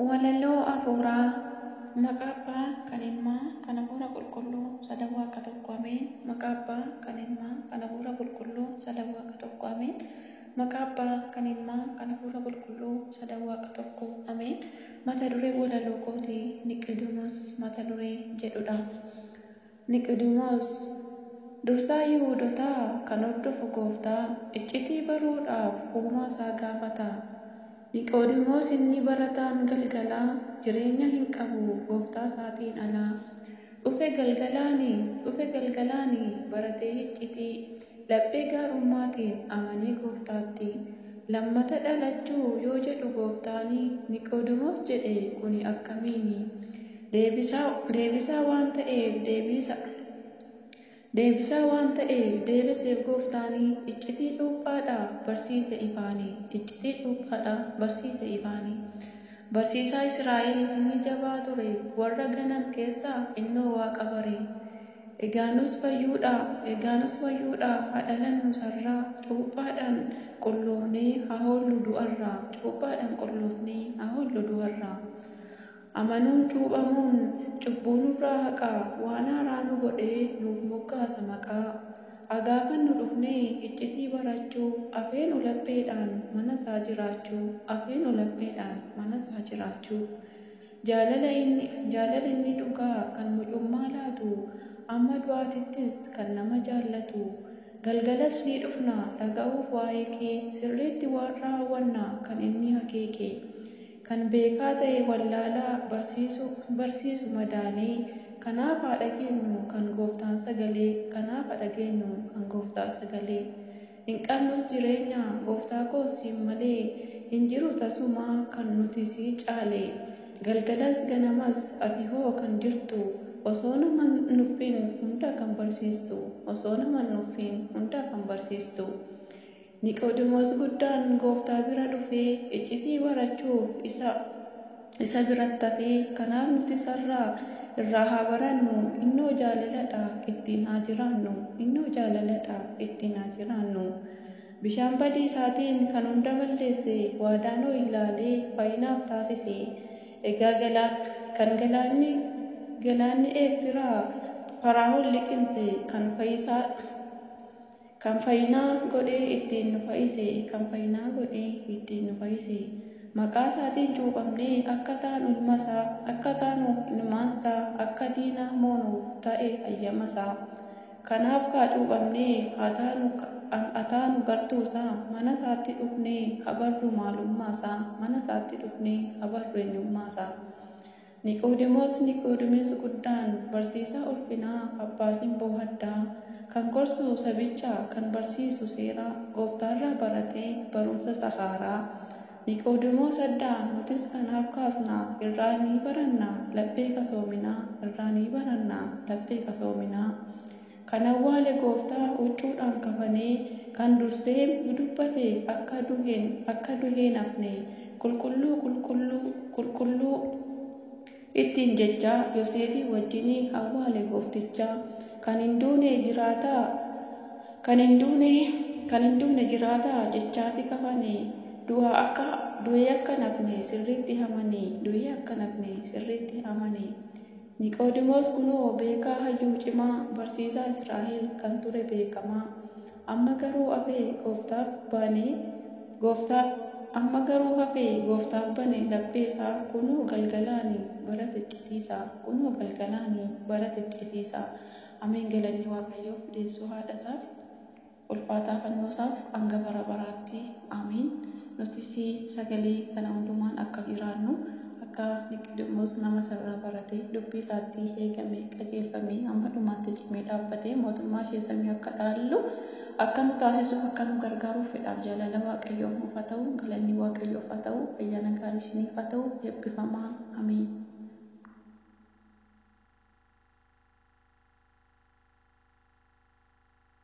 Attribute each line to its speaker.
Speaker 1: Walaloo Afuuraa Maqaa Abbaa, kan Ilmaa, kan Afuura Qulqulluu, Sadan Waaqa Tokko Ameen Maqaa Abbaa, kan Ilmaa, kan Afuura Qulqulluu, Sadan Waaqa Tokko Ameen Maqaa Abbaa, kan Ilmaa, kan Afuura Qulqulluu, Sadan Waaqa Tokko Ameen Mata dureen walaloo kootii Niqidonos mata duree jedhudha. Niqoodimoos, dursaa Yihuudotaa kan hordofu Gooftaa iccitii baruudhaaf Uumaa isaa gaafata. Niqoodimoos inni barataan galgalaa jireenya hin qabu Gooftaa isaatiin ala. Dhufe galgalaani, dhufe galgalaani baratee hiccitii laphee gaarummaatiin amanee Gooftaatti lammata dhalachuu yoo jedhu Gooftaani Niqoodimoos jedhe kuni akkamiini? Deebisaa, deebisaa waan ta'eef deebiisa. Deebisaa waan ta'eef deebiseef gooftaanii iccitii cuuphaadhaa barsiise ifaanii iccitii cuuphaadhaa barsiise ifaanii. Barsiisaa Israa'el inni jabaa ture warra ganan keessaa innoo waaqa bare. Egaa nus fayyuudhaa, egaa nus fayyuudhaa haa dhalannu sarraa cuuphaadhaan qulloofnee haa hoollu du'arraa, cuuphaadhaan qulloofnee haa hoollu du'arraa. Amanuun cuuphamuun cubbuu nurraa haqaa waan haaraa nu godhee nuuf moggaasa maqaa. A Gaafannu dhufnee iccitii barachuu afeenu lapheedhaan mana isaa jiraachuu afeenu lapheedhaan mana isaa jiraachuu. Jaalala inni jaalala inni dhugaa kan mucummaa laatu amma du'aatittis kan nama jaallatu. Galgalas ni dhufna dhaga'uuf waa'ee kee sirriitti waan raawwanna kan inni akeeke. Kan beekaa ta'e wallaalaa barsiisu, barsiisu madaalee, kanaaf haa dhageenyu kan Gooftaan sagalee, kanaaf ha dhageenyu kan Gooftaa sagalee. Hin qabnus jireenya, Gooftaa koo siin malee, hin jiru tasumaa kan nuti si caale. Galgalas ganamas ati hoo kan jirtu, osoo nama hin nuffiin hunda kan barsiistu, osoo nama hin nuffiin hunda kan barsiistu. Niqoodimoos guddaan Gooftaa bira dhufee iccitii barachuuf isa isa biratti hafe, kanaaf nuti isarraa irraa haa barannu, innoo jaalala dha, ittiin haa jiraannu, innoo jaalala dha, ittiin haa jiraannu. Bishaan badiisaatiin kan hunda balleesse waadaa Nohi ilaalee faayinaaf taasise. Egaa galaan, kan galaanni, galaanni Eertiraa Faraahoon liqimse, kan fayisaa, Kan fayinaa godhee ittiin nu fayise Kan fayinaa godhee ittiin nu fayise Maqaa isaatiin cuuphamnee Akka taanu ilma isaa Akka taanu ilmaan isaa Akka diina moonuuf ta'e hayyama isaa Kanaaf kaa cuuphamnee Haa taanu gartuu isaa Mana isaatti dhufnee Haa barru maalummaa isaa Mana isaatti dhufnee Haa barru eenyummaa isaa. Niqoodimoos Niqoodimiis guddaan, barsiisaa ulfinaa, abbaa simboo haddaa, kan gorsu sabicha, kan barsiisu seera Gooftaarraa barate, barumsa isa haaraa. Niqoodimoos addaa, nutis kanaaf kaasna, irraa ni baranna, laphee qasoominaa, irraa ni baranna, laphee qasoominaa. Kan awwaale gooftaa huccuudhaan kafanee kan dursee nu dubbate akka duhen akka duheen hafne qulqulluu qulqulluu qulqulluu ittiin jechaa yoseefii wajjini awwaale goofticha kan hin duune jiraataa kan hin duune kan hin duune jiraataa jechaati kafane du'a akka du'ee akka nafne sirriitti hamane du'ee akka nafne sirriitti hamane Niqoodimoos kunoo beekaa hayyuu cimaa, barsiisaa Israa'el kan ture beekamaa, amma garuu hafe Gooftaaf bane, Gooftaaf, amma garuu hafe Gooftaaf bane laphee isaa, kunoo galgalaani bara ticcitiisa, kunoo galgalaani bara ticcitiisa. Ameen galanni Waaqayyoof deessuu haadha isaaf. ulfaataa fannoo isaaf hanga bara baraatti Aamiin nutis sagalee kana hundumaan akka jiraannu akka Niqidimoos nama isarraa baratee dubbii isaatti eegamee qajeelfamee hamma dhumaatti cimee dhaabbatee mootummaa ishee samii akka dhaallu akka nu taasisuuf akka nu gargaaruuf fedhaaf jaalala waaqayyoo nuuf haa ta'u galanni waaqayyoof haa ta'u ayyaana gaarii isiniif haa ta'u eebbifamaa Aamiin.